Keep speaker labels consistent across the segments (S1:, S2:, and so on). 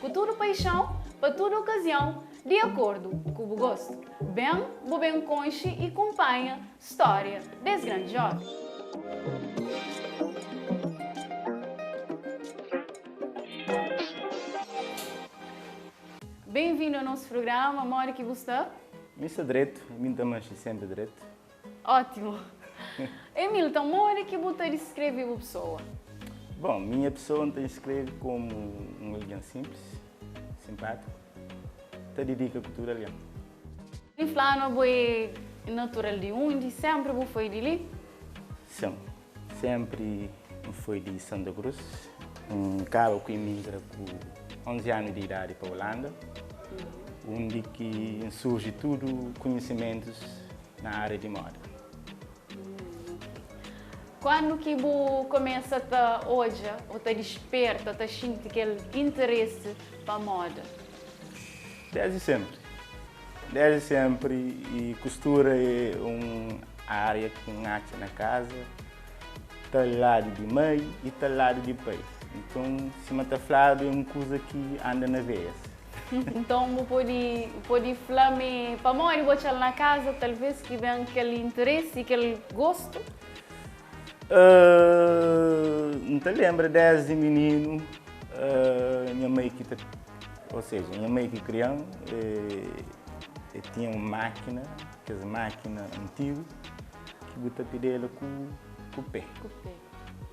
S1: Ku tudu paixãu, pa tudu okaziãu, di akordu ku bu gostu, ben bu ben konxe i kunpanha stória des grandi jóven. Benvindu a nos prugrama Modi ki bu sta? Mi sta dretu,
S2: mi N ta manxe senpri dretu. Ótimu!
S1: Ei Milton, modi ki bu ta diskreve bu pesoa? Bon, minha
S2: pesoa N ta diskreve komu un algen sinplis, sinpátiku, ki ta dedika ku tudu algen. N fla
S1: ma bu é natural di undi? Sénpri bu foi di li? Sin.
S2: Senpri N foi di Santa Cruz. N kaba ku imigra ku 11 anu di idadi pa Ulanda, undi ki N surji tudu kunhisimentus na ária di moda.
S1: Kandu ki bu kumesa ta odja ô ta disperta, ta xinti kel interesi pa moda?
S2: Désdi senpri. Desdi senpri, kustura é un ária ki N atxa na kaza, ta ladu di mai i ta ladu di pai. Nton, sima ta fladu, é un kuza ki anda na veias. Nton, bu
S1: pode pode fla ma é pamodi bu atxa-l na kaza talvês ki ben kel interesi i kel gostu?
S2: N ta lenbra desdi mininu nha mai ki ta. Ou seja, nha mei ki kria-m e tinha um mákina, kes mákina antigu ki bu ta pidela ku ku pé.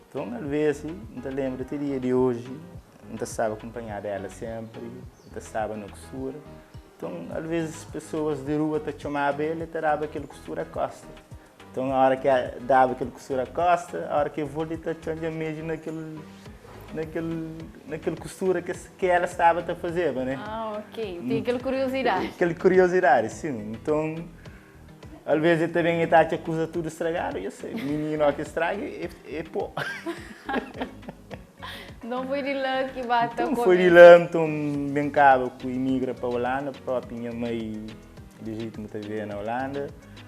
S2: Nton alvesi n ta lenbra ti dia di oji n ta staba akunpanhada ela senpri e ta staba na kustura. Nton alvesi pesoas di rua ta txomaba el e ta daba kel kustura kosta. Nton, óra ki daba kel kustura kósta, óra ki el volta, el ta txonja meju na kel, na kel, na kel kustura ki es, ki ela staba ta fazeba, ne. Ah, ok. El tinha
S1: kel kuriozidadi. Kel kuriozidadi,
S2: sin. Nton, alvês el ta ben, el ta atxa kuza tudu stragadu, yo sei, mininu óki straga, e, e pô.
S1: Nton, foi di la ki ba ta kumesa. Nton, foi di la,
S2: nton, N ben kaba ku imigra pa Olanda, própi nha mai lijitima ta viveba na Olanda.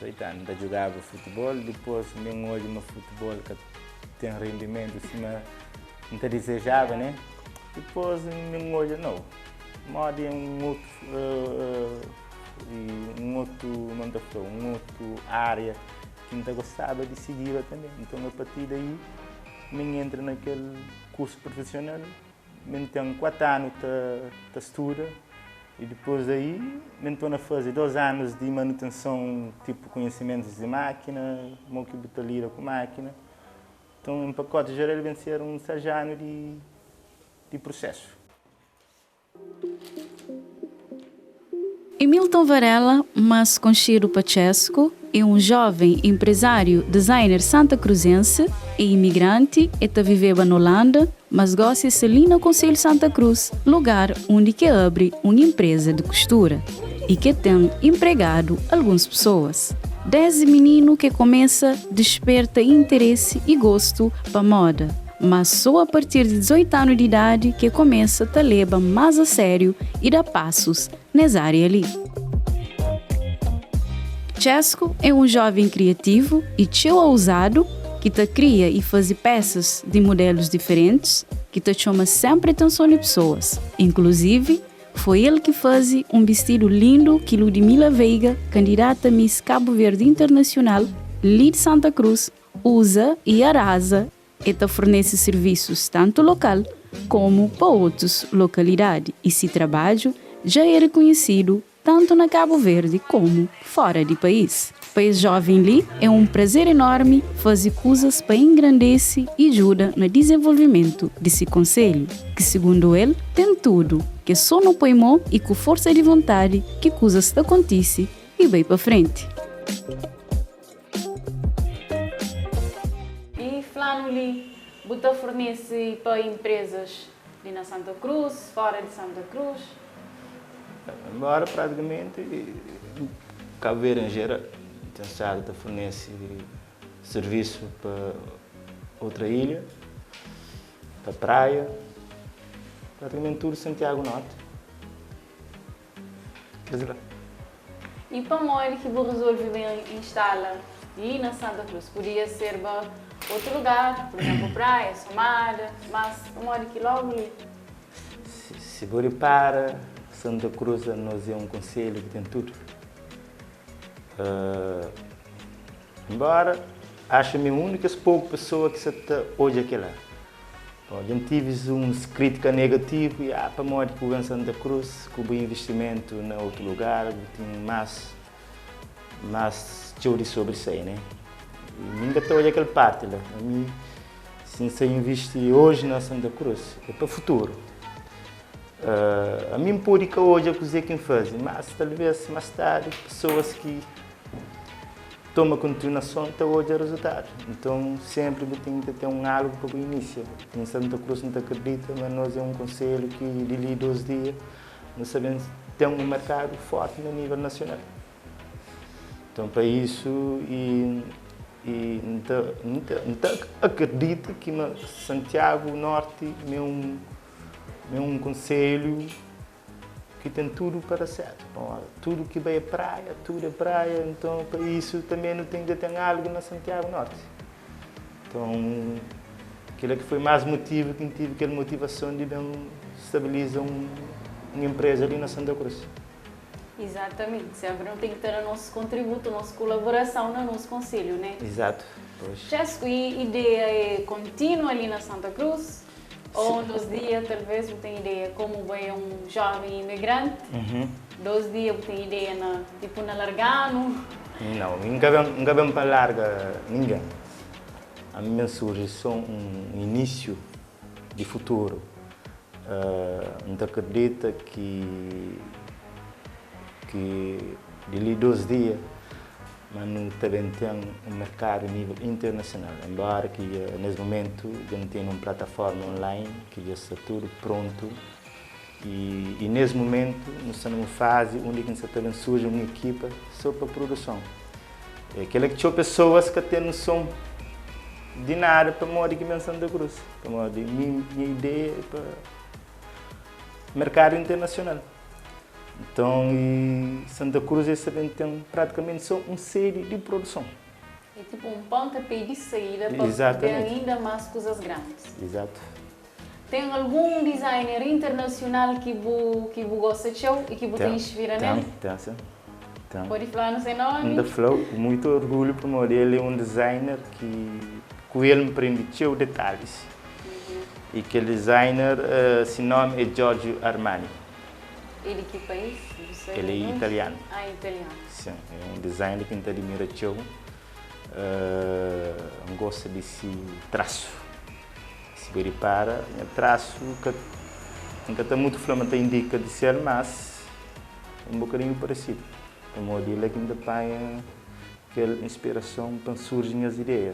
S2: 18 anu, N ta djugaba futibol, dipôs mi N odja ma futibol ka ten rendimentu sima N ta dizejaba, ne. Dipôs mi N odja, nau, modi é un otu un otu kuma N ta fla-u, un otu ária ki N ta gostaba di sigiba tanbê. Nton, a partir daí, mi N entra na kel kursu profesional. Mi N ten kuatu anu ta ta studa i dipôs di aí mi N tô na faze dôs anus di manutenson, tipu konhesimentus di mákina, mo ki bu ta lida ku mákina. Nton, en pakóti jeral el ben ser un sarjanu di di prusesu.
S1: E Milton Varela, más konxedu pa Txesku, é un jóven enprezáriu designer santakruzensi. É imigranti, el ta viveba na Olanda, mas gósi é sta li na Konselhu Santa Krus, lugar undi ki el abri un enpreza di kustura i ki el ten enpregadu alguns pesoas. Désdi mininu ki el kumesa disperta interesi i gostu pa móda. Má sô a partir di 18 anu di idadi ki el kumesa ta leba más a sériu i da pasus nes ária li. Chesco é un jóven kriativu i txeu auzadu ki ta kria i faze pésas di mudélus diferentis ki ta txoma sénpri atenson di pesoas. Inkluzivi, foi el ki faze un bistidu lindu ki Ludimila Veiga, kandidata Miss Cabo Verde Internacional li di Santa Cruz, Uza y Arasa e ta fornese sirvisus tantu lokal komu pa otus lokalidadi y si trabadju dja e rekonhesidu tantu na Kabu Verdi komu fora di pais. Pa es joven li e un prazer enormi faze kuzas pa engrandese y djuda na dizenvolvimentu di si konselhu, ki segundu el ten tudu, ke so no poi mo y ku forsa di vontadi ki kuzas ta kontise y bai pa frenti. E fla-nu li, Bu ta fornese pa inprezas li na Santa Cruz, fora di Santa Cruz?
S2: Enbora pratikamenti Cabo Verde en geral ten stadu ta fornese servisu pa otra ilha, pa praia, pratikamenti tudu Santiago Norte.
S1: Dizê la. I pamodi ki bu rezolve ben instala li na Santa Cruz? Podia serba otu lugar, pur izénplu Praia, Somada, mas pamodi ki lógu li?
S2: Si bu ripara, Santa Cruz pa nos é un konselhu ki ten tudu. Enbóra, axu mi é un di kes poku pesoa ki sa ta odja kel-la. Dja N tevi uns krítika negativu, ya pamodi ku bu ben Santa Cruz, ku bu invistimentu na otu lugar, bu ten más, más txeu di sobrisai, né? I mi N ka ta odja kel párti la. Pa mi, si N sta invisti oji na Santa Cruz, é pa futuru. Ami N pode ka odja kuzê ki N faze, mas talvês más tardi, pesoas ki. Toma kontiunason ta odja rezultadu. Nton, sénpri bu ten ki ta ten un algu pa bu inísia. N Santa Cruz, N ta kridita ma nos é un konselhu ki, di li dôs dia, nu sta ben ten un merkadu fórti na nível nasional. Nton, pa isu, i i N ta N ta N ta akridita ki ma Santiagu Nórti ma é un ma é un konselhu. Ki ten tudu pa da sertu pa un óra. Tudu ki bai é praia, tudu é praia. Nton, pa isu tanbê nu ten dja ten algu na Santiagu Nórti. Nton, kila ki foi más motivu ki N tevi kel motivason di ben stabiliza un enpresa li na Santa Cruz. Izatamenti.
S1: Sénpri nu ten ki ta da nos kontributu, nos kulaborason na nos konselhu, né? Izatu. Pois.
S2: Txesku, i
S1: ideia é kontinua li na Santa Cruz? Ô un dos dia talvês bu ten ideia kômu bai é un jóven imigranti, dos dia bu ten ideia na tipu na larga-nu? Nau, mi
S2: nka ben, nka ben pa larga ningen. Ami ben surji sô un inisiu di futuru. Nta kridita ki, ki di li dos dia ma nu ta ben ten un merkadu nível internasional. Enbóra ki dja nes momentu dja nu tene un platafórma online ki dja sta tudu prontu y nes momentu nu sta na un fazi undi ki nu sa ta ben surji un ekipa so pa pruduson. É kel-la ki txeu pesoas ka ten nuson di nada pamodi ki ben Santa Cruz, pamodi mi nha ideia é pa merkadu internasional. Nton, i Santa Cruz es ta ben ten pratikamenti sô un sedi di produson. É tipu un
S1: pôntapé di saída pa ten ainda más kuzas grandis. Izatu.
S2: Ten
S1: algun designer internasional ki bu ki bu gosta txeu i ki bu ta inspira nel? Ten, ten sin. Então,
S2: Pode falar no seu
S1: nome? N ta fla-u ku muitu
S2: orgulhu pamodi el é un designer ki ku el N prende txeu detalis. I kel designer si nómi é Giorgio Armani. É di
S1: ki país? Bu sabe El é nunka?
S2: italianu. Ah, italianu.
S1: Sin, é un
S2: designer ki N ta adimira txeu. N gosta di se trasu. Si bu ripara, nha trasu ka, N ka ta mutu fla ma ta indika di ser, mas. Un bokadinhu paresidu, pamodi el é ki N ta panha kel inspirason pa N surji nhas ideia.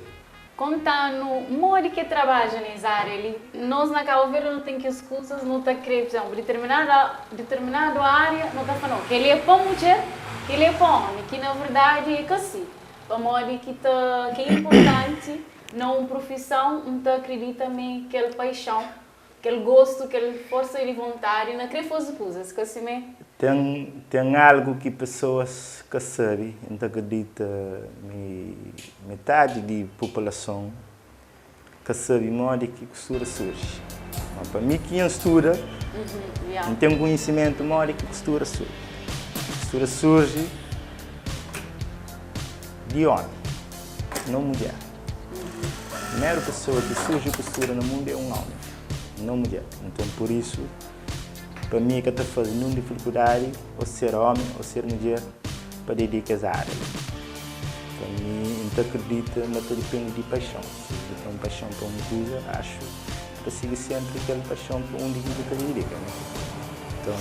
S2: Konta-nu
S1: modi ki é trabadja na es ária li. Nos na Cabo Verde nu ten kes kuzas nu ta krê, pa izénplu, diterminada, diterminadu ária nu ta fla nau kel-li é pa mudjer, kel-li é pa ómi, ki na verdadi é ka si, pamodi ki ta, ki é inportanti na un prufison, N ta akridita ma é kel paixon Kel gostu, kel forsa di vontadi na kre faze kuzas ka simé. Ten, ten
S2: algu ki pesoas ka sabe. N ta kridita ma é metadi di populason ka sabe modi ki kustura surji. Má pa mi ki N studa, N ten konhisimentu modi ki kustura surji. Kustura surji di ómi, no mudjer. Primeru pesoa ki surji ku studa na mundu é un ómi, no mudjer. Nton, pur isu, pa mi ka ta faze ninhun difilkudadi ô ser ómi ô ser mudjer pa dedika es ária li. Pa mi, N ta kridita ma ta dipende di paixon. Si bu ten un paixon pa un kuza, axu bu ta sigi sénpri kel paixon pa undi ki bu ta dedika, ne? Nton,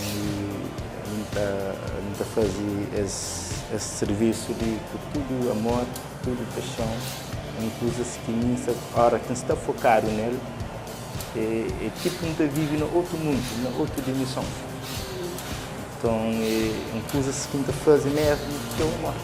S2: N ta faze es sirvisu li ku tudu amor. Tudu paixon é un kuzas ki mi sa ora ki nsta fokadu nel é tipu nta vivi na otu mundu na otu dimenson nton é un kuzas ki nta fazi mesmu txeu amor.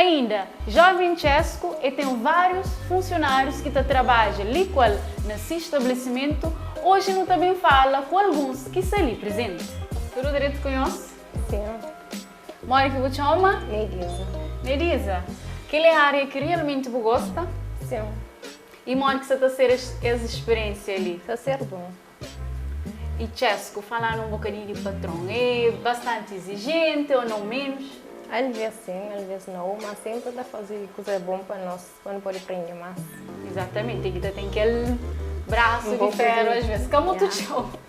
S1: Ainda, Jovem Chesco e tem vários funcionários que ta trabaja li qual na si estabelecimento, hoje nu ta bem fala com alguns que sa li presente. Tudo direito com nhos? Sim.
S3: Modi
S1: ki bu txoma? Mediza.
S3: Mediza.
S1: Kel é ária ki realmenti bu gosta? Sin.
S3: I modi
S1: ki sa ta ser es spiriénsia li? Ta ser bon. I Txesku, falanu un bokadinhu di patron, é bastanti izijenti o nau menus? Alvês sin,
S3: alvês nau, má sénpri el ta faze kuza bon pa nos, pa nu pode prende más. Izatamenti. El ki
S1: ta ten kel brasu di féru alvês.
S3: Ka
S1: mutu txeu.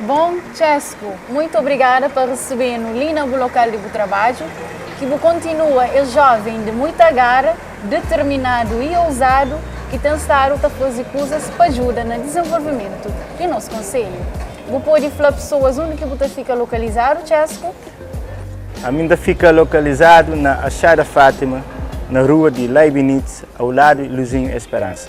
S1: Bom, Chesco, muito obrigada pa resebenu li na bu local di bu trabadju, ki bu kontinua es joven di muita gara, determinadu y ousadu ki ten stadu ta fazi kuzas pa djuda na dizenvolvimentu di nos konselhu. Bu podi fla pesoas undi ki bu ta fika lokalizadu, Chesco? Ami
S2: n ta fika lokalizadu na Achada Fatima, na rua di Leibnitz, au ladu di Luzinho Esperança.